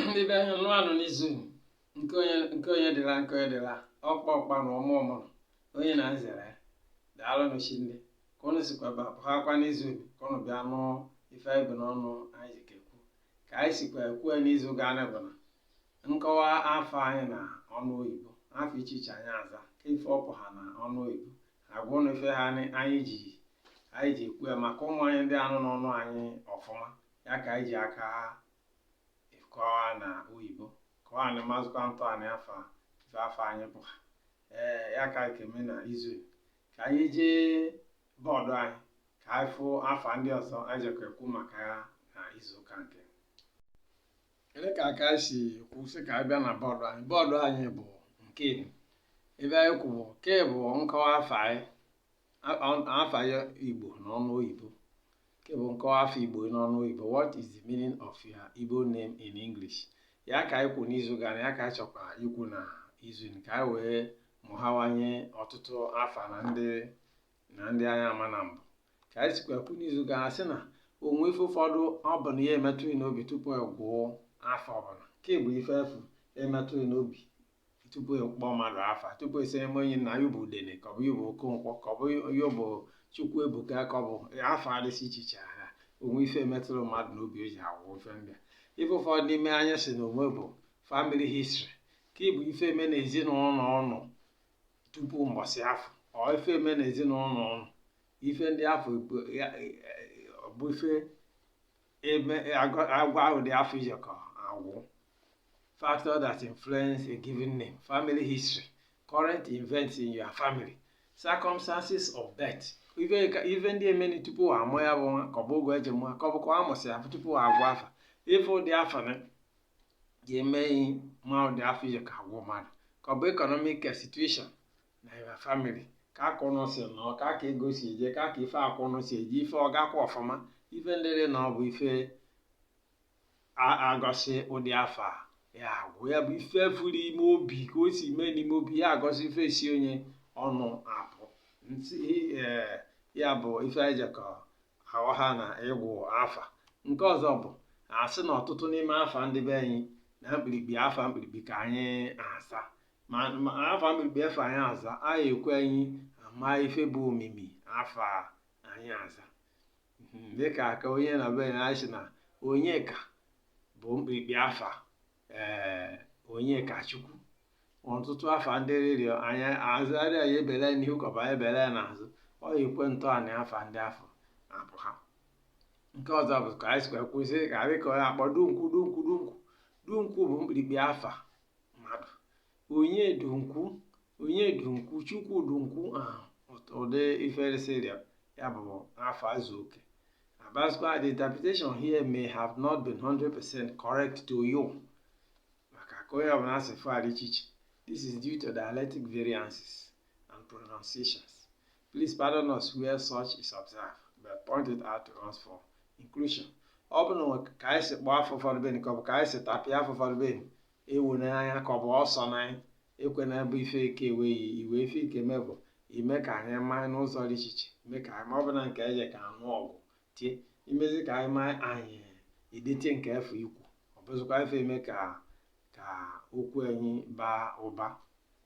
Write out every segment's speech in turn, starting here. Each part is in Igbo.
ndị be anyị nnọọ nụ n'izu nke onye nke onye dịlị ya nke onye dịlị ya ọkpa ọkpa na ọma ọmụrụ onye na-azere ya daalụ nụ shinne ka ụnụ sikwa bịahakwa n'izu ka ụnụ bịa nụ ife anyị bu n'ọnụ anyị jekọ ekwu ka anyị sikwa kwue n'izu gaa na bụ na nkọwa afa anyị na ọnụ oyibo afa iche iche anyị aza ka ife ọ pụha na ọnụ oyibo agwa ụnụ ife ha anyị anyị ji anyị ji ekwu ya maka ụmụ anyị ndị anụ n'ọnụ anyị ọfụma ya ka anyị ji aka kọwa na oyibo ka ụnụ mazukwatụanụ afa ife afa anyị pụha ya ka anyị ka-eme na izu ka anyị jee bọọdụ anyị ka anyị fụ afa ndị ọzọ anyị jekwa ekwu maka ya na izu ụka nke ele ka aka si kwu sị ka anyị bịa na bọọdụ anyị bọọdụ anyị bụ nke ebe anyị kwu bụ ke bụ nkọwa afa anyị A- a- afa ya igbo n'ọnụ oyibo nke bụ nkọwa afa igbo n'ọnụ oyibo what is the meaning of your igbo name in english ya ka anyị kwu n'izu gara ya ka anyị chọkwa ikwu na izu ka anyị wee mụhawanye ọtụtụ afa na ndị na ndị anyị ama na mbụ ka anyị sikwa kwu n'izu gara sị na o nwe ife ụfọdụ ọ bụ na ya emetụ ghị n'obi tupu ị gụọ afa ọbụla nke bụ ife afụ emetụ ghị n'obi tupu ịkpọ mmadụ afa tupu a sị na onye na ya bụ udene ka ọ bụ ya bụ okonkwo ka ọ bụ ya bụ chukwuebuka ka ọ bụ afa dịsị iche iche ha o nwe ife metụrụ mmadụ n'obi o ji agụ afa ndị a ife ụfọdụ n'ime anyị sị na o nwe bụ family history ke bụ ife eme na ezinụlọ ụnụ tupu mbọsị afụ ọ ife eme na ezinụlọ ụnụ ife ndị afụ bụ ife ebe agwa ụdị afa ị jekọ agụ factor that influence a given name family history current events in your family circumstances of birth ife ndị emeni tupu amụ ya bụ nwa ka ọ bụ oge e ji mụọ ka ọ bụkwa a mụsị ya tupu agụ afa ife ndị afụ na ga-eme ma ụdị afa ị jekọ agụ mmadụ ka ọ bụ economic situation na your family ka akụ ụnụ si nọ ka aka ego si eje ka aka ife akụ ụnụ si eje ife ọ gakwa ọfụma ife ndịrị na ọ bụ ife agosi ụdị afa ya agụ ya bụ ife furu ime obi ka o si mee n'ime obi ya agosi ife si onye ọnụ apụta ee ya bụ ife e jekọ aghọha na ịgụ afa nke ọzọ bụ a sị na ọtụtụ n'ime afa ndị be anyị na mkpirikpi afa mkpirikpi ka anyị aza ma ma afa mkpirikpi afa anyị aza anyị ekwe anyị ama ife bụ omimi afa anyị aza Mhm, dịka ka onye na be ya anyị sị na Onyeka bụ mkpirikpi afa ee Onyekachukwu ọtụtụ afa ndị rịrịọ anyị azarị anyị ebele n'ihu ka ọ bụ ebele n'azụ ọ yikwe ntọala afa ndị afụ apụha nke ọzọ bụ ka anyị sikwa kwụsị ka anyị ka ọ na-akpọ dunkwu dunkwu dunkwu dunkwu bụ mkpirikpi afa mmadụ onye dunkwu onye dunkwu chukwu dunkwu ahụ ụdị iferisịrịa ya bụ afa azụ oke abazikwa the interpretation here may have not been 100% correct to you maka ka onye ọbụla si afụ adị iche iche this is due to dialectic variances and pronunciations Please pardon us where such is observed, but point it out to us for inclusion. ọ bụ na ka anyị si kpọọ afa ụfọdụ beni ka ọ bụ ka anyị si tapịa afa ụfọdụ beni ewu n'anya ka ọ bụ ọsọ n'anya ekwe na bụ ife ike eweghị iwe ife ike me bụ ime ka anyị maa n'ụzọ dị iche iche ime ka anyị ma ọ bụ na nke eje ka anụ ọgwụ tie imezi ka anyị maa anyị edetie nke afụ i kwu ọ bụzikwa ife eme ka ka okwu anyị baa ụba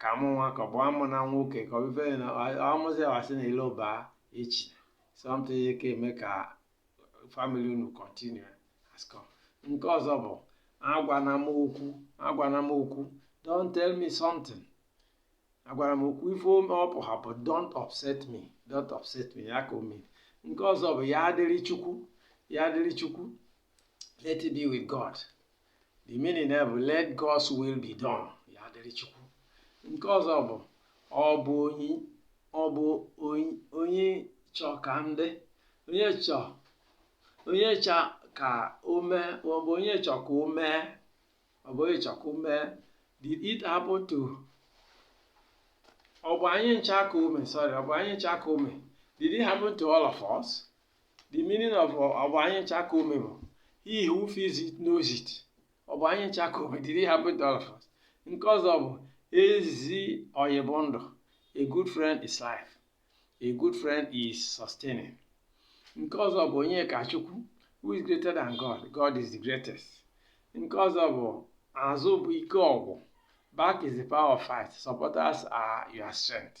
ka a mụ nwa ka ọ bụ a mụ nwa nwoke ka ọ bụ ife na amụzi asị na Iloba echina something ya ka eme ka family unu continue has come nke ọzọ bụ agwana m okwu agwana m okwu don't tell me something agwana m okwu ife ọ pụha bụ don't upset me don't upset me ya ka o mere nke ọzọ bụ ya dịrị Chukwu ya dịrị Chukwu let it be with god the meaning ya bụ let God's will be done ya dịrị Chukwu nke ọzọ bụ ọ bụ onye ọ bụ onye chọ ka ndị onye chọ onye chọ ka o mee ọ bụ onye chọ ka o mee ọ bụ onye chọ ka o mee did it happen to ọ bụ anyị ncha ka o me sorry ọ bụ anyị ncha ka o me did it happen to all of us the meaning of ọ bụ anyị ncha ka o me bụ he who feels it knows it ọ bụ anyị ncha ka o me did it happen to all of us nke ọzọ bụ ezi ọyị bụ ndụ a good friend is life a good friend is sustaining nke ọzọ bụ Onyekachukwu who is greater than god god is the greatest nke ọzọ bụ azụ bụ ike ọgụ back is the power of fight supporters are your strength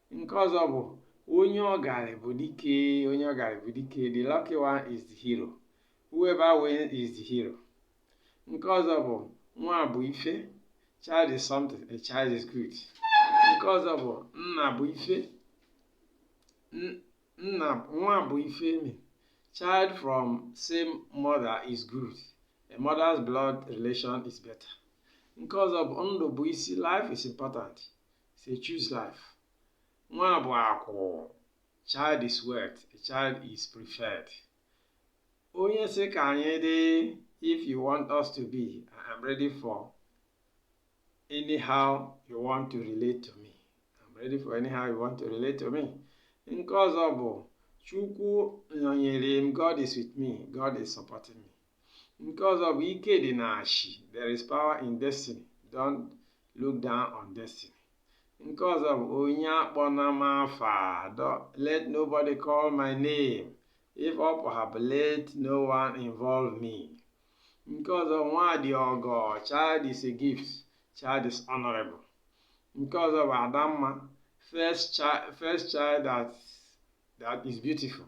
nke ọzọ bụ onye ọgarị bụ dike onye ọgarị bụ dike the lucky one is the hero whoever wins is the hero nke ọzọ bụ nwa bụ ife child is something a child is good nke ọzọ bụ nna bụ ife nwanne bụ ife emi child from same mother is good a mother's blood relation is better nke ọzọ bụ ndụ bụ isi life is important So choose life. Nwa bụ akụ. Child is wealth. A child is preferred. Onye sị ka anyị dị if you want us to be, I am ready for anyhow you want to relate to me. I am ready for anyhow you want to relate to me. Nke ọzọ bụ Chukwu nọnyere m, God is with me, God is supporting me. nke ọzọ bụ ike dị na ashi there is power in destiny don't look down on destiny nke ọzọ bụ onye akpọna m afa let nobody call my name if ọ pụhapụ let no one involve me nke ọzọ nwa dị ọgọ child is a gift child is honorable nke ọzọ bụ adamma first child, first child that, that is beautiful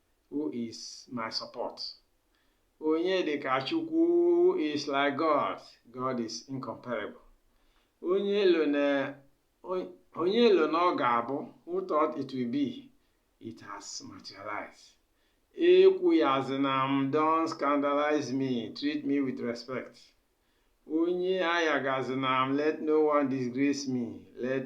who is my support onye dị ka chukwu who is like god god is incomparable onye lo na onye lo na ọ ga-abụ who thought it will be it has materialized ekwuyazina m don't scandalize me treat me with respect onye ayagazina m let no one disgrace me let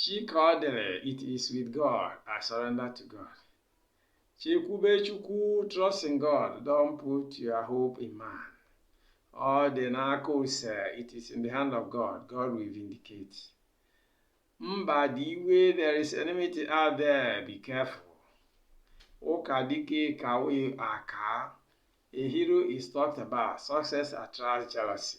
Chikọdịrị, it is with God, I surrender to God. Chekwube Chukwu, trust in God, don't put your hope in man. Ọ dị n'aka ose, it is in the hand of God, God will vindicate. Mba dị iwe, there is enmity out there, be careful. Ụka dike ka we aka. A hero is talked about, success attracts jealousy.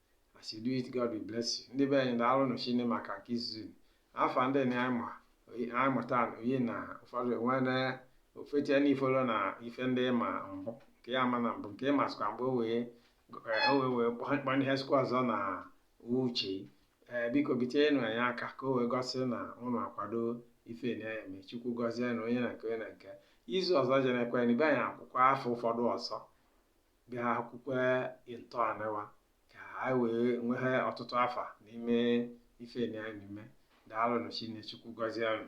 as you do it God will bless you ndị be anyị daalụ nụ shinne maka nke izuzu afa ndị na anyị ma anyị mụta oyi na ụfọdụ enwe na ofetie na ifolo na ife ndị ma mbụ nke ya ma na mbụ nke ịma sịkwa mgbe o wee o wee wee kpọọ ihe sikwa ọzọ na uche ee biko bitenụ anyị aka ka o wee gosi na ụnụ akwado ife anyị na-eme chukwu gọzie nụ onye na nke onye na nke izu ọzọ jenekwe na ibe anyị akwụkwọ afa ụfọdụ ọzọ bịa kwukwee ntọanị wa ka anyị wee nwee ọtụtụ afa n'ime ife anyị na-eme daalụ nụ shinne Chukwu gọzie unu